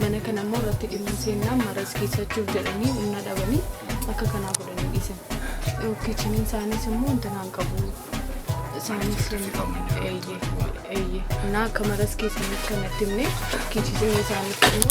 mana kana immoo irratti dhimma seenaa maras keessachuuf jedhanii humna dhabanii akka kanaa godhanii dhiisan. Kichiniin isaaniis immoo wanta naan qabu isaaniis eeyyee eeyyee. Naa akka maras keessaniif kanatti himne kichisiin isaaniif immoo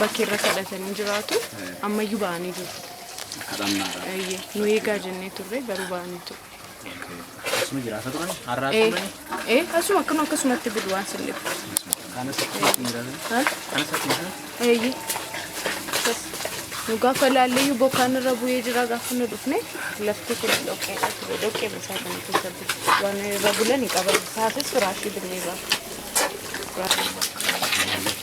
bakki irra kadhatanii jiraatu ammayyuu ba'anii jiru. Kadhannaadha. Eeyyee, nu eegaa jennee turre garuu ba'anii ture. Asuma jiraata turan har'aa Ee, turani. ee, asuma akkuma akkasumatti bulu waan sin dhibu. Kanas akkuma jiraatan. Ha? Kanas akkuma jiraatan. Eeyyee. Akkas. Nu gaafa laalleeyyuu bokkaan irra bu'ee jira gaafa nu dhufne lafti kun dhoqqeedha ture dhoqqee isaa kana keessa bulu waan irra bulan hin qaban taasis firaashii binnee ba'a. Firaashii.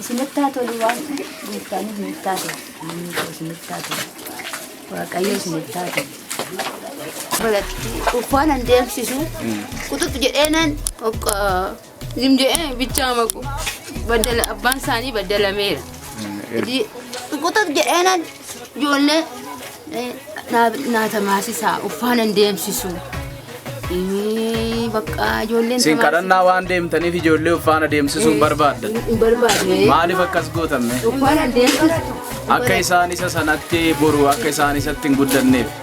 Isinitti haa tolu waan gooftaan isinitti haa tolu. Inni koo isinitti haa tolu. Waaqayyo isinitti haa tolu. Uffaan an deemsisu quxuxu jedhee nan okka zim jedhee bichaa maku baddala abbaan isaanii baddalameera. Quxuxu jedhee nan Ijoollee eh, naa- naa tamaasisa uffaanan deemsisu. Eh, Bakka ijoolleen Isin kadhannaa waan deemtaniif ijoollee uffaana deemsisuun barbaadda. hin barbaadne. Maaliif akkas gootamme? Uffaanan deemsisu. Akka isaan isa sanatti boru akka isaan isatti hin guddanneef.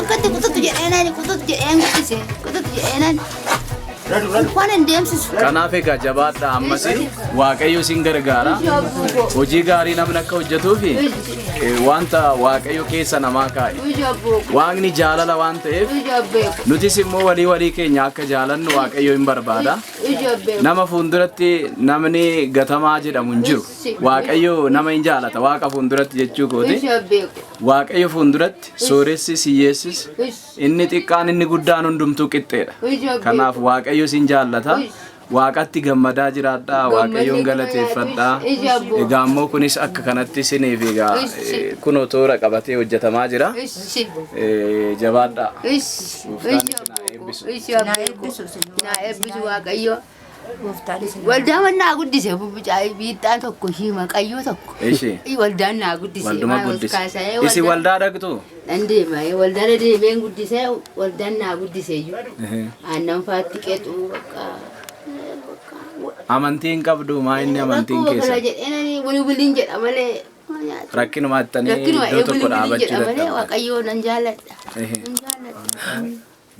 Akkatti kututu jedheenaan kututu jedheen guddise kututu jedheenaan waan hin deemsisu. Kanaaf egaa jabaadha ammas waaqayyo isin gargaara. Hojii gaarii namni akka hojjetuufi eh, wanta waaqayyo keessa namaa kaa'e. Ija abboo Waaqni jaalala waan ta'eef ija abbee nutis immoo walii walii keenya akka jaalannu waaqayyo hin barbaada. ija abbee Nama fuulduratti namni gatamaa jedhamu hin jiru. Waaqayyo nama hin jaalata waaqa fuulduratti jechuu kooti. ija abbee Waaqayyo fuulduratti Sooressis hiyyeessis inni xiqqaan inni guddaan hundumtuu qixxeedha. Kanaaf Waaqayyo isin jaallata. Waaqatti gammadaa jiraadhaa, Waaqayyoon galateeffadhaa. Egaa immoo kunis akka kanatti isiniif egaa eh, kunoo toora qabatee hojjetamaa jira. Ishi. Eh, Jabaadhaa. Ishi. Gooftaan isin haa eebbisu. Ishi. Naa eebbisu. Naa eebbisu Waaqayyo. Waldaan naa guddise biixxaa tokko ishii maqayyoo tokko. Ishii. Waldaan naa guddise. Walduma guddise. Isi waldaa dhaqxu? Nan deema waldaa na deemeen guddise waldaan naa guddise iyyuu. Aannan faatti qexu bakka. Amantii hin qabdu maa inni amantiin Rakkoo kana keessa? jedheen ani wiliwiliin jedha malee. Rakkinuma attanii Rakkinuma iddoo tokko wiliwiliin dhaabachuu jedha malee dadhabdan. waaqayyoo nan jaalladha. Ehe. Nan jaalladha.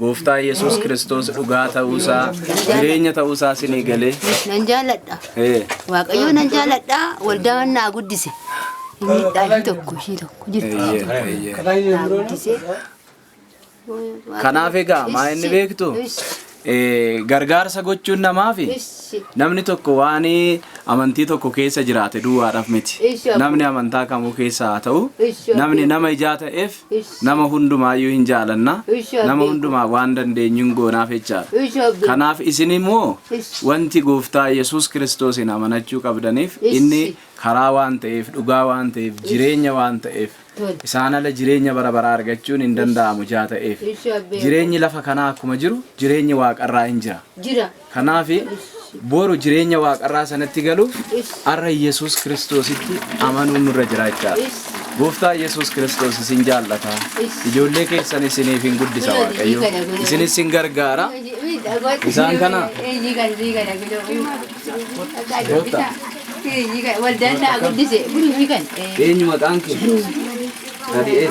Gooftaa Yesuus Kiristoos dhugaa ta'uusaa, jireenya ta'uusaa sinii galee. Nan jaaladha. Ee, Waaqayyoo nan jaaladha. Waldaa naa guddise. Miidhaa ishii tokko ishii tokko jirti. eeyyee, eeyyee. Naa guddise. Kanaaf egaa maa inni beektu? Ee, Gargaarsa gochuun namaafi Issi. namni tokko waan amantii tokko keessa jiraate duwwaadhaaf miti. Eessi abboo. Namni amantaa kamuu keessa haa ta'u, Eessi abboo. namni nama ijaa ta'eef Ish. Nama hundumaayyuu hin jaalanna. Ish, Nama abdii hundumaa waan dandeenyu hin goonaaf jechaadha. Ish, abdii. Kanaaf isin immoo Ish. wanti gooftaa Yesuus Kiristoosiin amanachuu qabdaniif Ish. inni karaa waan ta'eef, dhugaa waan ta'eef, jireenya waan ta'eef Tole. isaan ala jireenya bara baraa argachuun hin danda'amu ijaa ta'eef. Ish, abdii. Jireenyi lafa kanaa akkuma jiru jireenyi waaqarraa hin jira. Jira. Kanaaf, boru jireenya waaqarraa sanatti galuuf har'a Yesuus Kiristoositti amanuun nurra jira jechaadha. Gooftaa Yesuus Kiristoos isin jaallata. Ijoollee keessan isiniif hin guddisa Waaqayyo. Isinis sin gargaara. Isaan kana Gooftaa. Waldaan naa guddise. Eenyu maqaan kee? Nadi'ee.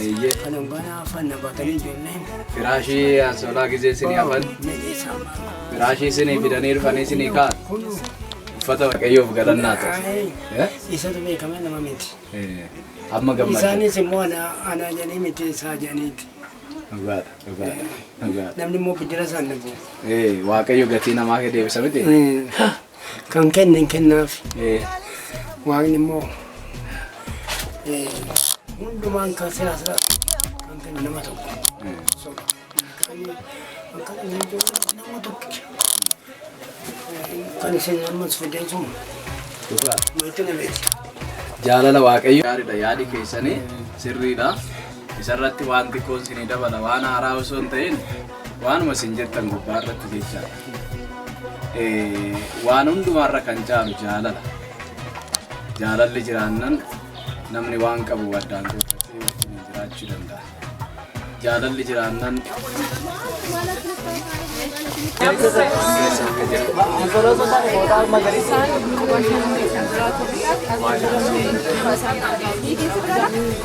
Eeyyee. Firaashii asoolaa gizee isinii hafan. Firaashii isinii fidanii dhufanii isinii kaa'an. Uffata waaqayyoof galannaa ta'u. Eh? Isatu beekama nama miti. Eh, Amma gammadda. Isaanis immoo ana ana jedhanii miti isaa jedhaniiti. Dhugaadha, dhugaadha, dhugaadha. Namni immoo biddira isaan dhabu. Eh, Waaqayyo gatii namaa kee deebisa miti. Kan kenne hin kennaaf. Waaqni immoo hundumaan kan siyaasa kan kennu nama tokko. Akka inni jiru nama tokkicha. Kan isin ammas fidee jiru Dhugaa. maatii nameeti. Jaalala waaqayyo. Gaariidha yaadi keessanii sirriidha. Isarratti waan xiqqoon isinii dabala waan haaraa osoo hin ta'in Waanuma isin jettan gubbaa irratti jechaadha. Eh, Waan hundumaarra kan caalu jaalala. Jaalalli jiraannan namni waan qabu addaan qooddatee wajjin jiraachuu danda'a. Jaalalli jiraannan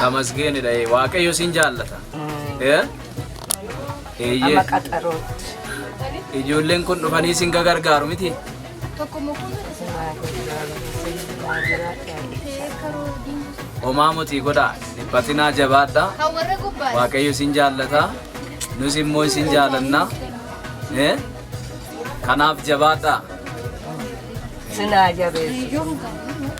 Tamasgeenidha ee, waaqayyo siin jaallata. Ee? Eeyyee. Amma qaxarootti. Ijoolleen kun dhufanii siin gargaaru miti. Sinaa gargaaru. Sinaa jiraadhaa. Homaa motii godhaa. Dhiphatinaa jabaadhaa. Waaqayyo siin jaallata. Nus immoo isin jaallanna. Ee? Kanaaf jabaadhaa. Sinaa jabeessu.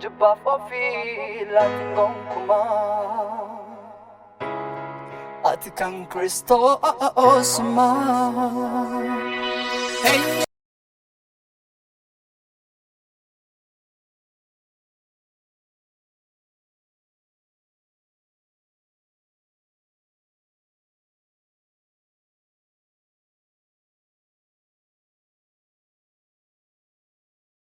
Jibbaaf ofii laatiin gonkumaa Ati kan Kiristoosumaa